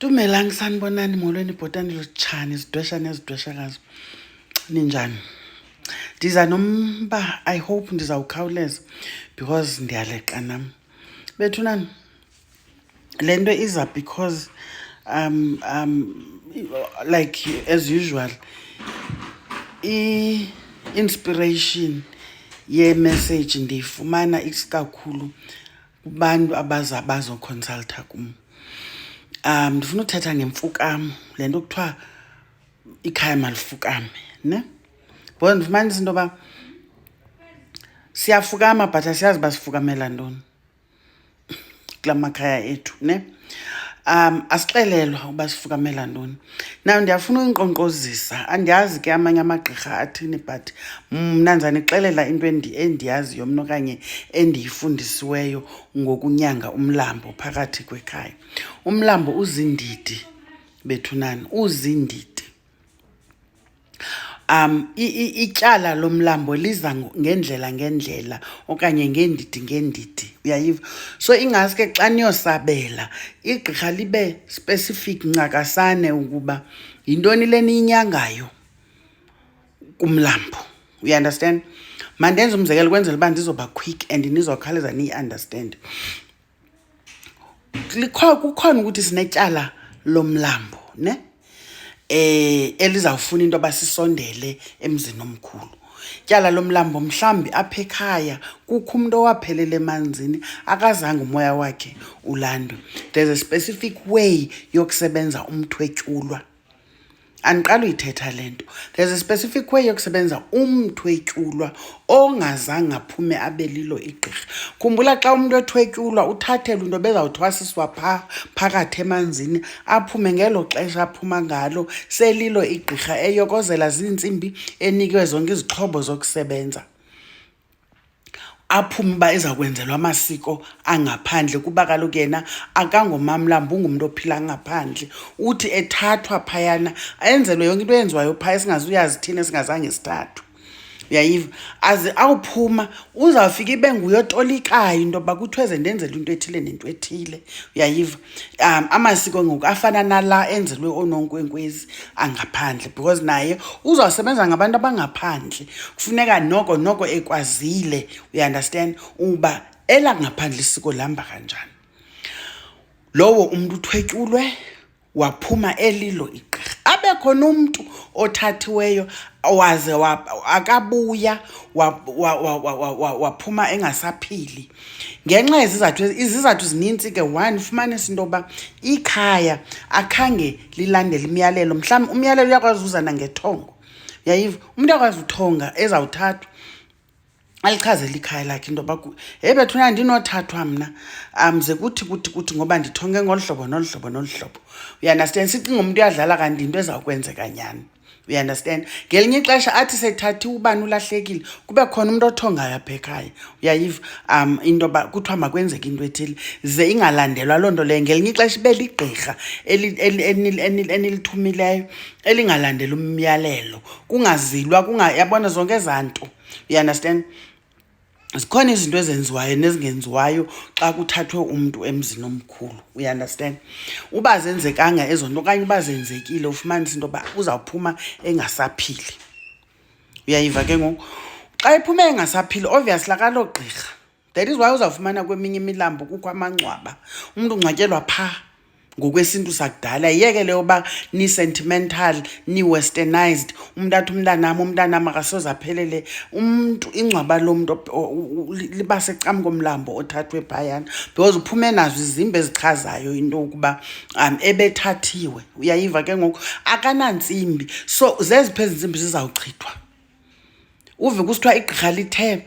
Dumelang sanibonani molweni bhotani lutshani zidwesha nezidweshakazi ninjani ndiza nomba i hope ndizawukhawuleza because ndiyaleqa nam bethunani le nto iza because um um like as usual i-inspiration yemessage ndiyifumana isikakhulu kubantu abaza bazokhonsaltha kum um ndifuna uthetha ngemfukam le nto kuthiwa ikhaya malifukame ne bhoza ndifumanisa into yoba siyafukama but asiyazi uba sifukamela ntoni kula makhaya ethu ne um asixelelwa uba sifukamela ntoni na ndiyafuna uyinkqonkqozisa andiyazi ke amanye amagqirha athini but mna ndizanixelela into endiyaziyo mna okanye endiyifundisiweyo ngokunyanga umlambo phakathi kwekhaya umlambo uzindidi bethunani uzindidi um ityala lomlambo liza ngendlela ngendlela okanye ngeendidi ngeendidi uyayiva so ingaske xa niyosabela igqirha libe specific ncakasane ukuba yintoni le niyinyangayo kumlambo you understand mandenze umzekelo kwenzela uba ndizoba quick and nizokhawuleza niyi-understand kukhona ukuthi sinetyala lomlambo ne eh elizawufuna into basisondele emzini omkhulu tyala lomlambo mhlambi apha ekhaya kukho umuntu owaphelela emanzini akazange umoya wakhe ulandwe there's a specific way yokusebenza umthwetyulwa andiqala uyithetha le nto there's a specific way yokusebenza umntu etyulwa ongazange aphume abe lilo igqirha khumbula xa umntu ethwetyulwa uthathelwa into bezawuthwasiswa pha phakathi emanzini aphume ngelo xesha aphuma ngalo selilo igqirha eyokozela ziintsimbi enikwe zonke izixhobo zokusebenza aphume uba eza kwenzelwa amasiko angaphandle kuba kaloku yena akangomamlambi ungumntu ophila ngaphandle uthi ethathwa phayana ayenzelwe yonke into eyenziwayo phaya singazuyazi thina singazange sithathwe uyayiva aze awuphuma uzawufika ibe nguye otolikayo into yoba kuthiweze ndenzela into ethile nento ethile uyayiva um amasiko ngoku afana nala enzelwe oononkwenkwezi angaphandle because naye uzawusebenza ngabantu abangaphandle kufuneka noko noko ekwazile uyiunderstand uba elangaphandle isiko lihamba kanjani lowo umntu uthwetyulwe waphuma elilo igqirha abe khona umntu othathiweyo waze akabuya waphuma engasaphili ngenxa yezizathu izizathu zininzi ke one fumanisa into yokuba ikhaya akhange lilandele imiyalelo mhlawumbi umyalelo uyakwazi uza nangethongo yayiva umntu akwazi uthonga ezawuthathwa alichazela ikhaya lakhe into yoba heyi bethuna ndinothathwa mna um ze kuthi kuthi kuthi ngoba ndithonge ngolu hlobo nolu hlobo nolu hlobo uyandastand sicinga umntu uyadlala kanti yinto ezawukwenzeka nyhani uyaunderstand ngelinye ixesha athi sethathi ubani ulahlekile kube khona umntu othongayo apha ekhaya uyayiva um into yoba kuthiwa makwenzeke into ethile ze ingalandelwa loo nto leyo ngelinye ixesha ibe ligqirha enilithumileyo elingalandela umyalelo kungazilwa yabona zonke ezaa nto uyaunderstand zikhona izinto ezenziwayo nezingenziwayo xa kuthathwe umntu emzini omkhulu uyaunderstand uba zenzekanga ezo nto okanye uba zenzekile ufumanisa into yoba uzawuphuma engasaphili uyayiva ke ngoku xa iphume engasaphili obvious lakaloo gqirha that is why uzawufumana kweminye imilambo kukho amangcwaba umntu ungcwatyelwa phaa ngokwesintu sakudala yeke leyo uba ni-sentimental ni-westernized umntu athi umntanam umntanam akasoze aphelele umntu ingcwaba lo mntu liba secam komlambo othathwe phayana because uphume nazo izimba ezichazayo into yokuba um ebethathiwe uyayiva ke ngoku akanantsimbi so zeziphi ezi ntsimbi zizawuchithwa uve kusithiwa igqirha lithe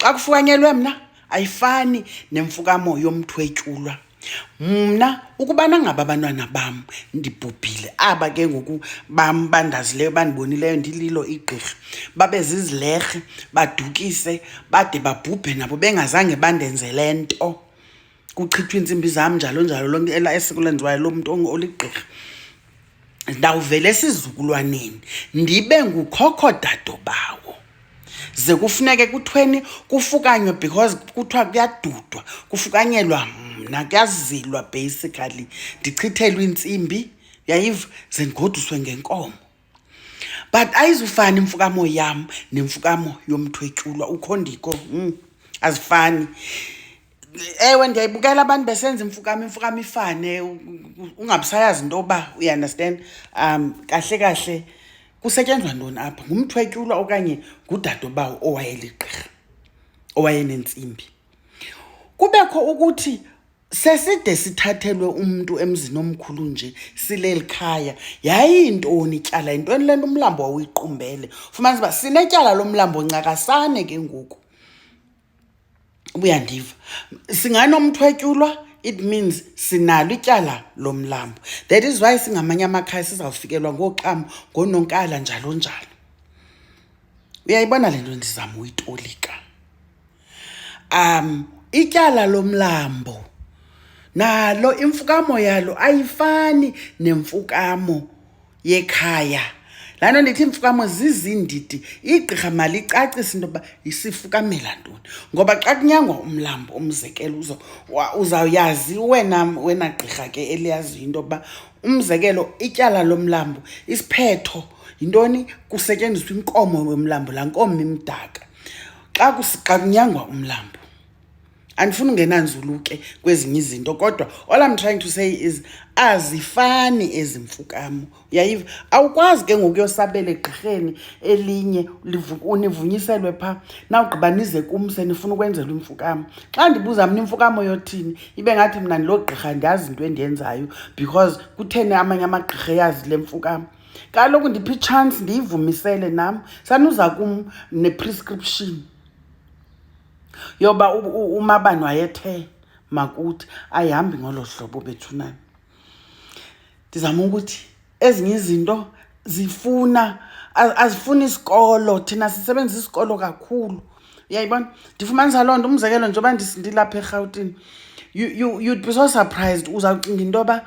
xa kufukanyelwe mna ayifani nemfukamo yomthwetyulwa mna ukubana ngaba abantwana bam ndibhubhile aba ke ngoku bam bandazileyo bandibonileyo ndililo igqirha babe zizilerhe badukise bade babhubhe nabo bengazange bandenzele nto kuchithwa iintsimbi zam njalo njalo lonke ela esiko lenziwayo lo mntu oligqirha ndawuvela esizukulwaneni ndibe ngukhokho dado bawo ze kufuneke kuthweni kufukanywe because kuthiwa kuyadudwa kufukanyelwa mna kuyazilwa basically ndichithelwe iintsimbi yayiva ze ndigoduswe ngenkomo but ayizufani imfukamo yam nemfukamo yomthwetyulwa ukhondiko mm, azifani ewe ndiyayibukela abantu besenza imfukamo imfukamo ifane ungabisayazi into yoba uyiunderstand um kahle kahle kusetyenzwa ntoni apha ngumthwetyulwa okanye ngudadobawo owayeligqirha owayenentsimbi kubekho ukuthi Seside sithathelwe umntu emzini omkhulu nje sileli khaya. Yayiyintoni ityala? Yintoni le nto umlambo wawuyiqumbele? Fumanisa uba sinetyala lomlambo ncakasane ke ngoku. Ubuyandiva. Singanomthwetyulwa it means sinalo ityala lomlambo. That is why singamanye amakhaya sizawufikelwa ngooxam, ngoononkala njalo njalo. Uyayibona le nto ndizama uyitolika? um ityala lomlambo nalo imfukamo yalo ayifani nemfukamo yekhaya laa nto ndithi iimfukamo zizindidi igqirha malicacise into yokuba isifukamela ntoni ngoba xa kunyangwa umlambo umzekelo uzo uzawuyazi wena wena gqirha ke eliyaziyo into yokuba umzekelo ityala lomlambo isiphetho yintoni kusetyenziswa inkomo yomlambo laa nkomo imdaka xa xa kunyangwa umlambo andifuni ungena nzulu ke kwezinye izinto kodwa all i'm trying to say is azifani ezi mfukamo uyayiva awukwazi ke ngoku yosabela egqirheni elinye univunyiselwe phaa nawugqiba nize kum senifuna ukwenzelwa imfukamo xa ndibuza mna imfukamo yothini ibe ngathi mna ndiloo gqirha ndiyazi into endiyenzayo because kutheni amanye amagqirha eyazi le mfukamo kaloku ndiphi itshansi ndiyivumisele nam sanuza kum neprescription yoba umabani wayethe makuthi ayihambi ngolo hlobo bethunani ndizama ukuthi ezinye izinto zifuna azifuni isikolo thina sisebenzisa isikolo kakhulu uyayibona ndifumanisa loo nto umzekelo njengoba ndilapha erhawutini you, you, you'd be so surprised uzawucinga into yoba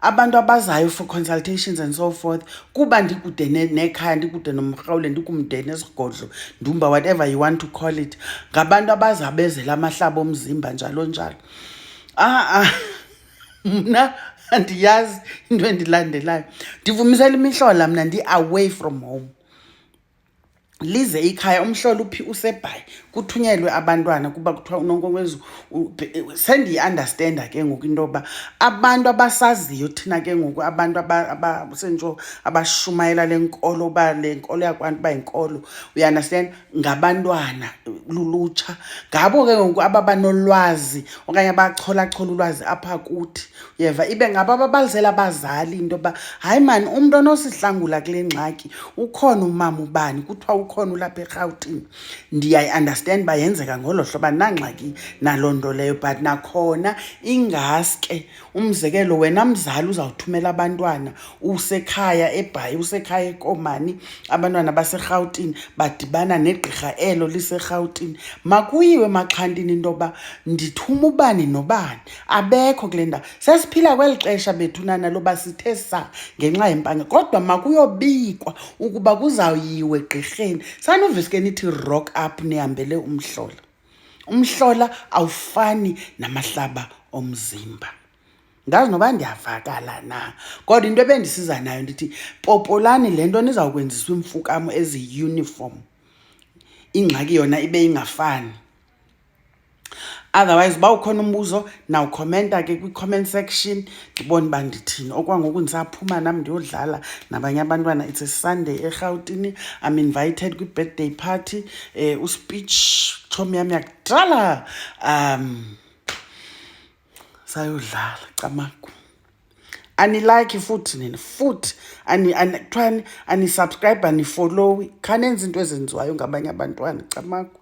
abantu abazayo for consultations and so forth kuba ndikude nekhaya ndikude nomrhawule ndikumde nesigodlo ndumba whatever you want to call it ngabantu abazabezela amahlaba omzimba njalo njalo a-a ah, mna andiyazi into endilandelayo ndivumisela imihlola mna ndi-away from home lize ikhaya umhlola uphi usebhayi kuthunyelwe abantwana kuba kuthiwa unonkonkwezu sendiyi-andastenda ke ngoku into yoba abantu abasaziyo thina ke ngoku abantu sentsho abashumayela le nkolo uba le nkolo yakwantu uba yinkolo uyiandastenda ngabantwana lulutsha ngabo ke ngoku ababanolwazi okanye abacholachola ulwazi apha kuthi yeva ibe ngaba babalisela abazali into yoba hayi mani umntu onosihlangula kule ngxaki ukhona umama ubani kuthiwa ukhona ulapha erhawutini ndiyayiunderstand uba yenzeka ngolo hlobo andinangxaki naloo nto leyo but nakhona ingaske umzekelo wena mzali uzawuthumela abantwana usekhaya ebhayi usekhaya ekomani abantwana baserhawutini badibana negqirha elo liserhawutini makuyiwe maxhantini into yoba ndithuma ubani nobani abekho kule ndawo sesiphila kweli xesha bethunana loba sithe sa ngenxa yempanga kodwa makuyobikwa ukuba kuzawuyiwe gqirheni sanuviske nithi rock up nihambele umhlola umhlola awufani namahlaba omzimba ngazi noba ndiyavakala na kodwa into ebendisiza nayo ndithi popolani le nto nizawukwenziswa iimfukamo eziyi-uniform ingxaki yona ibe ingafani otherwise uba ukhona umbuzo nawukhomenta ke kwi-comment section ndibone uba ndithini okwangoku ndisaphuma nam ndiyodlala nabanye abantwana it's a sunday erhawutini i'm invited kwi-birthday party um uspeech tshomi yam yakudala um sayodlala camagu anilike futhi nina futhi kuthiwani anisubscribe anifollowi khanenza into ezenziwayo ngabanye abantwana camagu